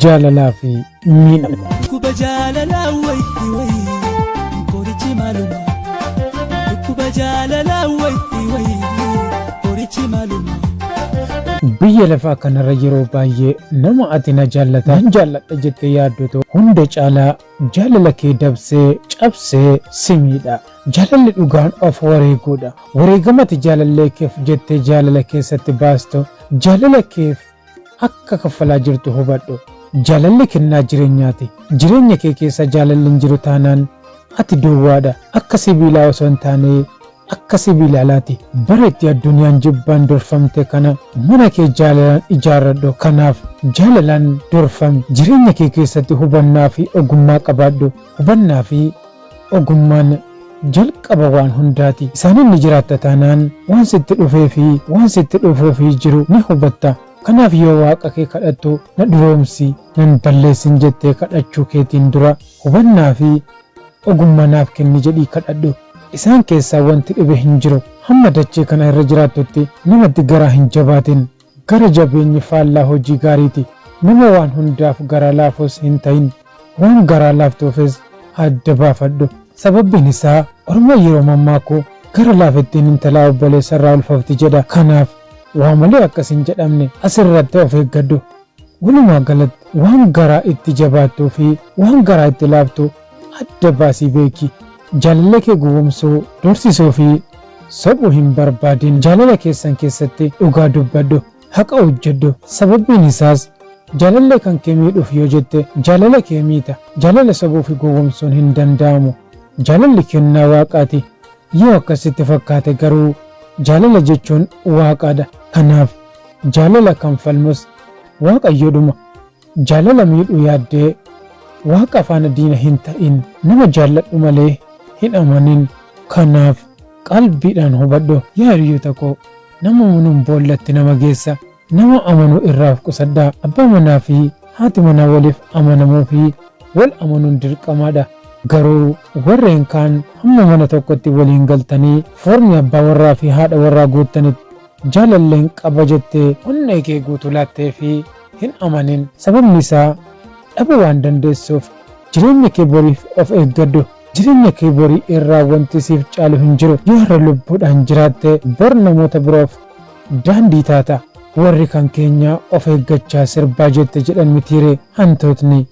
jaalalaa fi miidhama. Dhukkuba jaalalaa wayitti wayii qorichi maaluma. Dhukkuba jaalalaa wayitti wayii qorichi maaluma. Biyya lafaa kanarra yeroo baay'ee nama ati na jaallata nan jaalladha jettee yaaddotu hunda caalaa Jaalala kee dabsee, cabsee, si miidha. Jaalalli dhugaan of wareeguudha. Wareegama ati jaalallee keef jettee jaalala keessatti baastu, jaalala keef akka kaffalaa jirtu hubadhu. Jaalalli kennaa jireenyaati. Jireenya kee keessa jaalalli hin jiru taanaan ati duwwaadha. Akka sibiilaa osoo hin taanee Akka sibiila alaati. Bara itti addunyaan jibbaan durfamte kana mana kee jaalalaan ijaarradhu. Kanaaf jaalalaan durfami. Jireenya kee keessatti hubannaa fi ogummaa qabaadhu. Hubannaa fi ogummaan jalqaba waan hundaati. Isaaniin ni jiraatta taanaan waan sitti dhufee fi waan sitti dhufuuf jiru ni hubatta. Kanaaf yoo Waaqa kee kadhattu na duroomsi, nan balleessin jettee kadhachuu keetiin dura hubannaa fi Ogummaa naaf kenni jedhii kadhadhu. Isaan keessaa wanti dhibe hin jiru. Hamma dachee kana irra jiraattutti namatti garaa hin jabaatin. Gara jabeenyi faallaa hojii gaariiti. Nama waan hundaaf garaa laafus hin ta'in. Waan garaa laaftuufis adda baafadhu. Sababbiin isaa orma yeroo mammaaku gara laafettiin intalaa obboleessa irraa ulfofti jedha. Kanaaf waa malee akka sin jedhamne asirratti of eeggadhu. Walumaa galatti waan garaa itti jabaattuu fi waan garaa itti laaftu adda baasii beeki. Jaalallee kee gowwomsuu, doorsisuu fi sobu hin barbaadin. Jaalala keessan keessatti dhugaa dubbadhu, haqa hojjedhu. Sababbiin isaas jaalallee kan kee miidhuuf yoo jette jaalala kee miita. Jaalala sobuu fi gowwomsuun hin danda'amu. Jaalalli kennaa Waaqaati. Yoo akkas sitti fakkaate garuu jaalala jechuun Waaqaadha. Kanaaf jaalala kan falmus Waaqayyoodhuma. Jaalala miidhuu yaaddee Waaqa faana diina hin ta'in. Nama jaalladhu malee hin amanin. Kanaaf qalbiidhaan hubadhu. Yaa hiriyoota koo, nama amanuun boollatti nama geessa. Nama amanuu irraa of qusadhaa. Abbaa manaa fi haati manaa waliif amanamuu fi wal amanuun dirqamaa dha. Garuu warreen kaan hamma mana tokkotti waliin galtanii foormii abbaa warraa fi haadha warraa guuttanitti, Jaalalleen qaba jettee onnee kee guutuu laatteefi hin amanin. Sababni isaa dhabuu waan dandeessuuf. Jireenya kee boriif of eeggadhu. Jireenya kee borii irraa wanti siif caalu hin jiru. Yoo har'a lubbuudhaan jiraatte bor namoota biroof daandii taata. Warri kan keenya of eeggachaa sirbaa jette jedhan mitiiree hantuutni.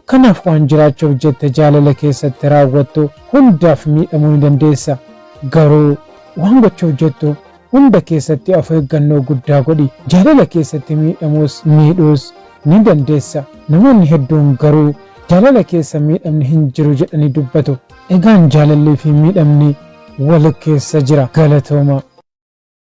Kanaaf waan jiraachuuf jette jaalala keessatti raawwattu hundaaf miidhamuu ni dandeessa. Garuu waan gochuuf jettu Hunda keessatti of eeggannoo guddaa godhi. Jaalala keessatti miidhamuus miidhuus ni dandeessa. Namoonni hedduun garuu jaalala keessa miidhamni hin jiru jedhanii dubbatu. Egaan jaalallii fi miidhamni wal keessa jira. Galatoomaa!